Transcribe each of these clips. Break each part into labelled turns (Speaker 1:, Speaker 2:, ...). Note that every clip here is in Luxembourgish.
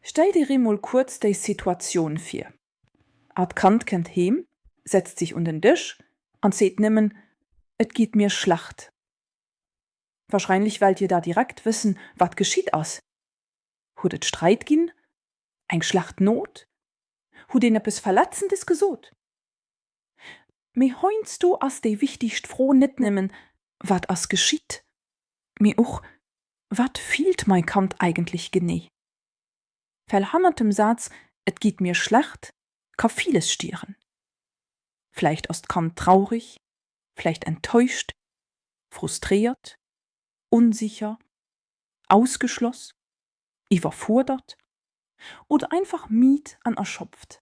Speaker 1: Stell dir eemol kuerz déi Situatioun vir, Art Kand kënnt heem, setzt sech un den Dësch an seet nëmmen, Et geet mir schlecht. Wahrscheinlech wellt dir da direkt wëssen, wat geschitt ass. Huet et Sträit ginn? Eng schlecht Note? Hutt een eppes Verletzendes gesot? Mee heiansdo ass déi wichtigst Fro net nëmmen, Wat ass geschitt? mee och, Wat fillt mai Kand eigentlech genee? Well hannert dem Saz Et geet mir schlecht ka villes stieren. Vläicht ass d'Kand traurig, vläicht enttäuscht, frustréiert, unsicher, ausgeschloss, iwwerfuerdert oder einfach midd an erschopft.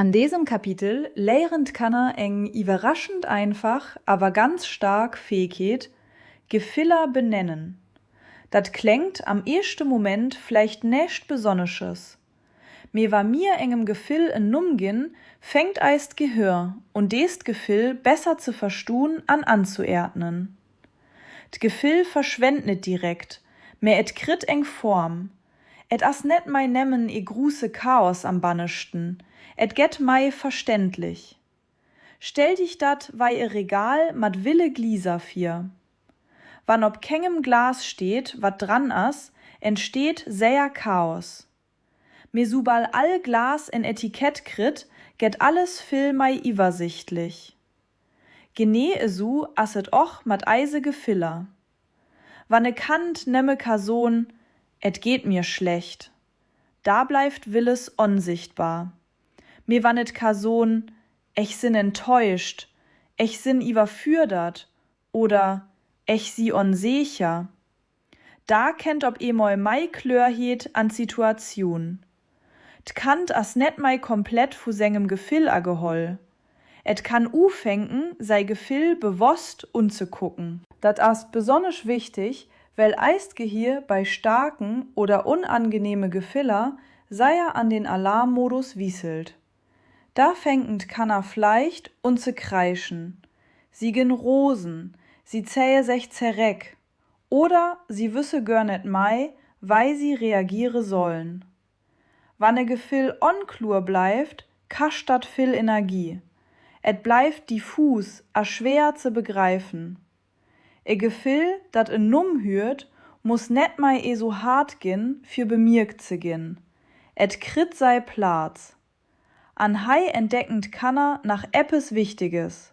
Speaker 1: An desem
Speaker 2: Kapitel léieren d'Kanner eng iwwerraschend einfach awer ganz staark Fähegkeet, Gefiller benennen. Dat kléngt am éischte Moment vläicht näischt Besonnesches, mee wa mir engem Gefill en Numm ginn, fänkt eist Gehir un dest Gefill besser ze verstun an anzuerdnen. D'Gefill verschwennt net direkt, mä et kritt eng Form, Et ass net mei nemmen e gruusse Chaos am Banneschten, et gett mei verständlich. Stell dich datt wei e Regal mat ville Gliiser vir. Wann op kengem Glas steet wat dran ass, entsteet säer Chaos. Mee subal all Glas en Etikett kritt, gett alles vill mei iwersichtlich. Genee esou ass et och mat eise Gefiller. Wann e Kand nëmme ka soen, et geet mir schlecht, da bleift villes onsichtbar. Mee wann et ka soen, ech sinn enttäuscht, ech sinn iwwerfürdert oder ech si onseecher, Da kennt op eemol mei Kloerheet an d'Situatioun. D'Kand ass net mei komplett vu sengem Gefill ageholl. Et kann ufänken sei Gefill bewosst unzekucken. Dat ass besonnesch wichteg, well eist Gehir bei staarken oder onangenehme Gefiller seier an den Alarmmodus wisselt. Da fänken d'Kanner vleicht un ze kreischen. Si gen rosen, si zähe sech zereck oder si wësse gör net mei wei si reagiere sollen. Wann e Gefill onkluer bleiwt kascht datt vill Energie, et bleiwt diffus a schwe'er ze begreifen. E Gefill datt en Numm hüet muss net mei eso' hard gin fir bemierkt ze gin, et kritt sei Plaz. An hei entdecken d'Kanner nach eppes Wichteges,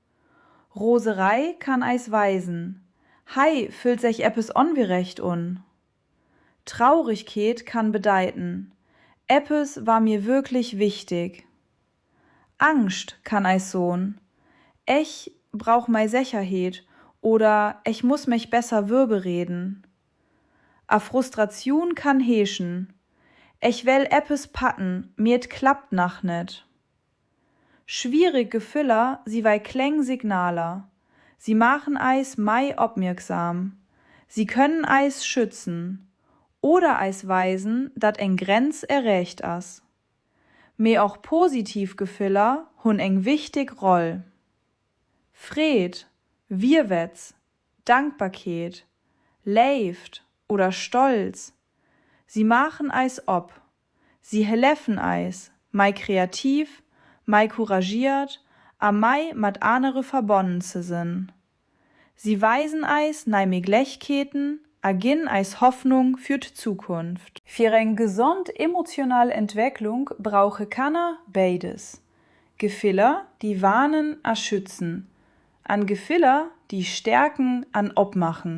Speaker 2: Roserei kann eis weisen, Hei füllt sech eppes ongerecht un. Trauregkeet kann bedeiten, Eppes war mir wirklich wichtig. Angscht kann eis son, Ech brauch mei Secherheet oder ech muss mech besser würbereden. A Frustratioun kann heeschen, Ech well eppes packen, mee et klappt nach net. Schwierig Gefiller si wei kleng Signaler, si maachen eis mei opmierksam, si können eis schützen oder eis weisen dat eng Grenz erreecht ass. Mee och positiv Gefiller hun eng wichtig Roll. Freed, Virwetz, Dankbarkeet, Léift oder Stolz, si maachen eis op Si hëlefen eis, mei kreativ, mei couragiert a mei mat anere verbonnen ze sënn. Si weisen eis nei Meglechkeeten a ginn eis Hoffnung fir d'Zukunft. Fir eng gesond emotional Entwecklung brauche Kanner béides, Gefiller, déi warnen a schützen, an Gefiller, déi stärken an opmachen.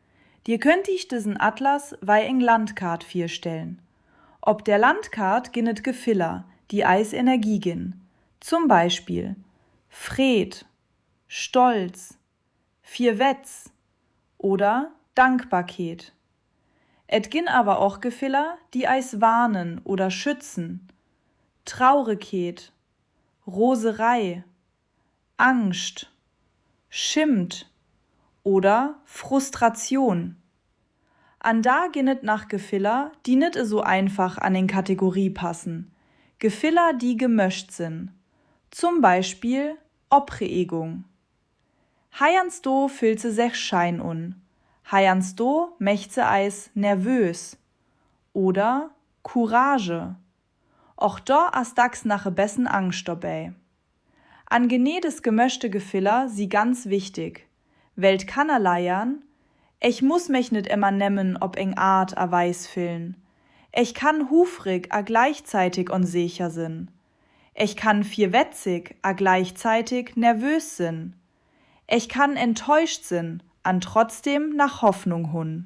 Speaker 2: Dir könnt iech desen Atlas wei eng Landkaart virstellen. Op der Landkaart gin et Gefiller déi eis Energie gin, zum Beispill Freed, Stolz, Virwetz oder Dankbarkeet. Et gin awer och Gefiller déi eis warnen oder schützen, Traurekeet, Roserei, Angscht, Schimmt oder Frustratioun. An da ginn et nach Gefiller, déi net esou einfach an eng Kategorie passen, Gefiller, déi gemëscht sinn, zum Beispill Opreegung. Heiansdo füllt se sech schein un, heiansdo mécht se eis nervös. Oder Courage, Och do ass dacks nach e bessen Angscht dobäi. An genee des gemëschte Gefiller si ganz wichtig, well d'Kanner leiern, Ech muss mech net emmer nemmen op eng Art a Weis fillen. Ech kann hufrig a gleichzeitig onsecher sen. Ech kann virwetzig a gleichzeitig nervös sen. Ech kann enttäuscht sen an trotzdem nach Hoffnung hun.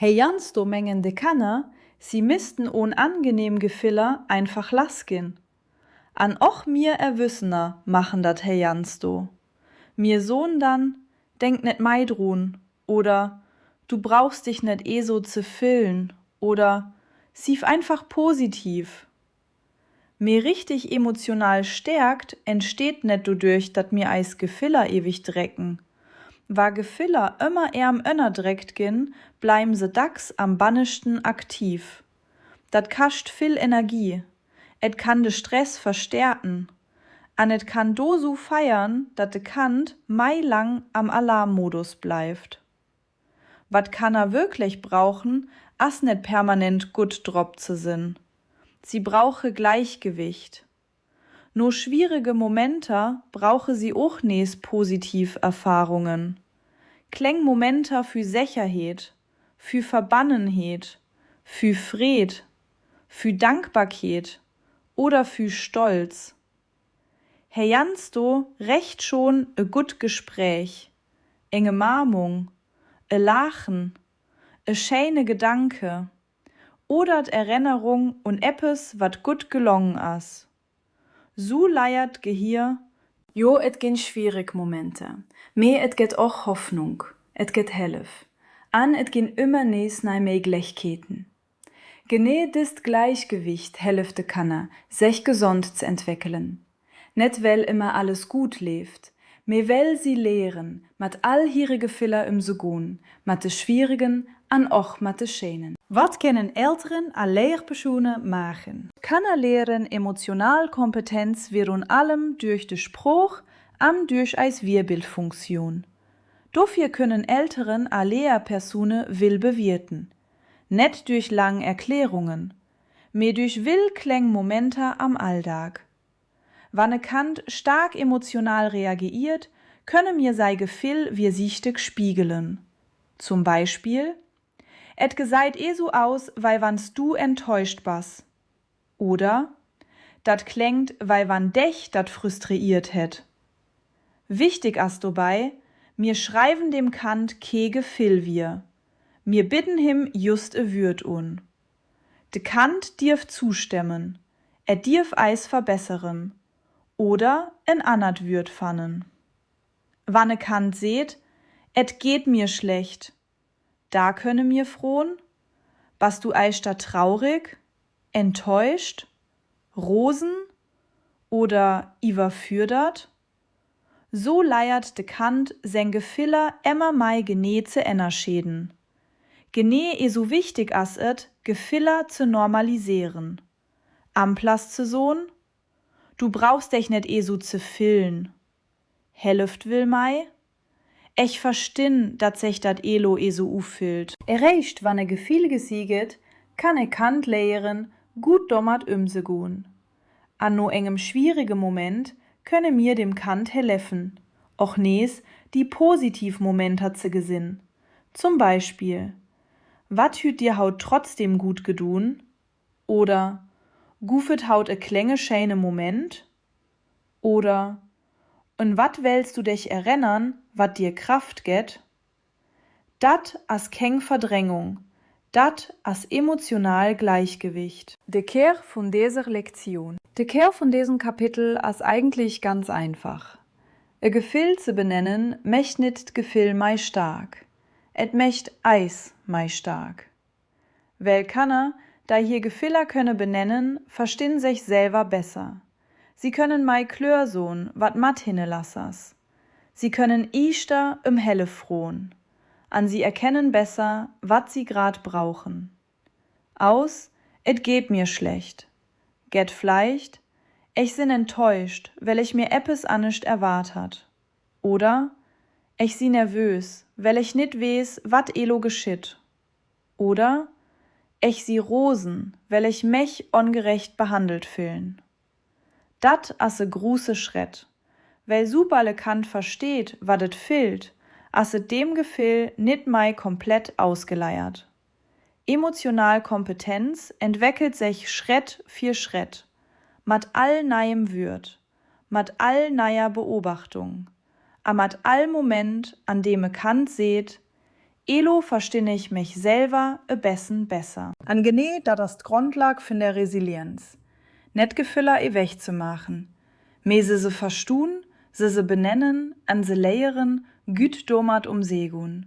Speaker 1: Heiansdo
Speaker 2: mengen de Kenner, si missten unangenehm Gefiller einfach lass ginn. An och mir Erwüssener machen dat heiansdo. Mir son dann, Denk net mei drun oder Du brauchs dich net eso ze fillen oder Sief einfach positiv Mee richteg emotional Stäerkt entsteet net doduerch, datt mir eis Gefiller eweg drécken. Wa Gefiller ëmmer ärm ënnerdréckt ginn, bleiwen se dacks am banneschten aktiv. Dat kascht vill Energie, et kann de Stress verstäerken an et kann do su feiern, datt de Kand mei lang am Alarmmodus bleift. Wat Kanner wökléch brauchen ass net permanent gutt drop ze sënn. Si brauche Gläichgewicht. No schwierege Momenter brauche si och nees positiv Erfahrungen. Kléng Momenter vü Secherheet, vü Verbannenheet, vü Freed, vü Dankbarkeet oder vü Stolz Heiansdo rächt schon e gutt Gespräch, eng Ëmaarmung, e Laachen, e schéine Gedanke oder d'Erennerung un eppes wat gutt gelong ass. Su leiert d'Gehir. Jo et
Speaker 3: gin schwiereg Momenter, mee et get och Hoffnung, et get Hellef an et gin ömmer nees nei Méiglechkeeten. Genee dëst Gläichgewicht hëlleft de Kanner, sech gesond ze entwéckelen. Net well ëmmer alles guut leeft, mee well si léieren, mat all hire Gefiller ëmzegoen, mat de schwieregen an och mat de schéinen. Wat kennen
Speaker 2: Elteren a Léierpersone maachen? D'Kanner léieren emotional Kompetenz virun allem duerch de Sprooch an duerch eis Virbildfunktioun. Dofir kënnen Elteren a Léierpersone vill bewierten. Net duerch laang Erklärungen, mee duerch vill kléng Momenter am Alldag. Wann e Kand staark emotional reageiert, kënne mir säi Gefill virsiichteg spiegelen. Zum Beispill, Et gesäit ee sou aus, wei wann s du enttäuscht bass. Oder, Dat kléngt wei wann dech dat frustreiert hätt. Wichtig ass dobäi, Mir schreiwen dem Kand kee Gefill vir, mir bidden him jhust e Würd un. De Kand dierf zustemmen, er dierf eis verbesseren oder en annert Würd fannen. Wann e Kand seet, Et geet mir schlecht, Da kënne mir fron, Bass du eischter traurig, enttäuscht, rosen oder iwwerfürdert? So leiert de Kand seng Gefiller emmer mei genee ze ennerscheeden. Genee eso wichtig ass et, Gefiller ze normaliséiren. Amplass ze son, Du brauchs dech net eso ze filln, helleft vill mei, Ech verstin dat sech dat elo eso ufillt. Eréischt wann e
Speaker 3: Gefill gesi get, kann e Kand léieren gut domat ömzegon. An no éngem schwierege Moment könne mir dem Kand héleffen och nees di positiv Momenter ze gesin. Zum Beispill, Wat hüt dir haut trotzdem gut gedun? oder Guff et haut e klénge schéine Moment? oder Un wat wéills du dech erennern, wat dir Kraft gett? Dat ass kéng Verdréngung, dat ass emotional Gläichgewicht. De Kär vun
Speaker 2: deser Lektioun. De Kär vun desem Kapitel ass eigentlech ganz einfach, E Gefill ze benennen mecht nit d'Gefill mei staark, et mecht eis mei staark. Well Kanner, dei hir Gefiller kënne benennen, verstinn sech selwer besser. Si kënnen mei klör son, wat mat hinne lass ass. Si kënnen iichter em Hellef fron. An si erkennen besser, wat si grad brauchen. Aus Et geht mir schlecht gett vleicht Ech sin enttäuscht, well ech mir eppes annescht erwart hat. Oder Ech si nervös, well ech nit wees, wat elo geschitt. Oder Ech si rosen, well ech mech ongerecht behandelt füllen. Datt ass e gruusse Schrétt, well subal e Kand versteet, wat et fillt, ass et deem Gefill nit mei komplett ausgeleiert. Emotional Kompetenz entweckelt sech Schrétt fir Schrétt, mat all neiem Würd. mat all neier Beobachtung a mat all Moment, an deem e Kand seet, Elo verstinn ech mech selwer e bessen besser. An genee dat ass d'Grondlag vun der Resilienz, net Gefiller ewech ze maachen, mee se se verstun, se se benennen an se léieren, gütt domat um Segun.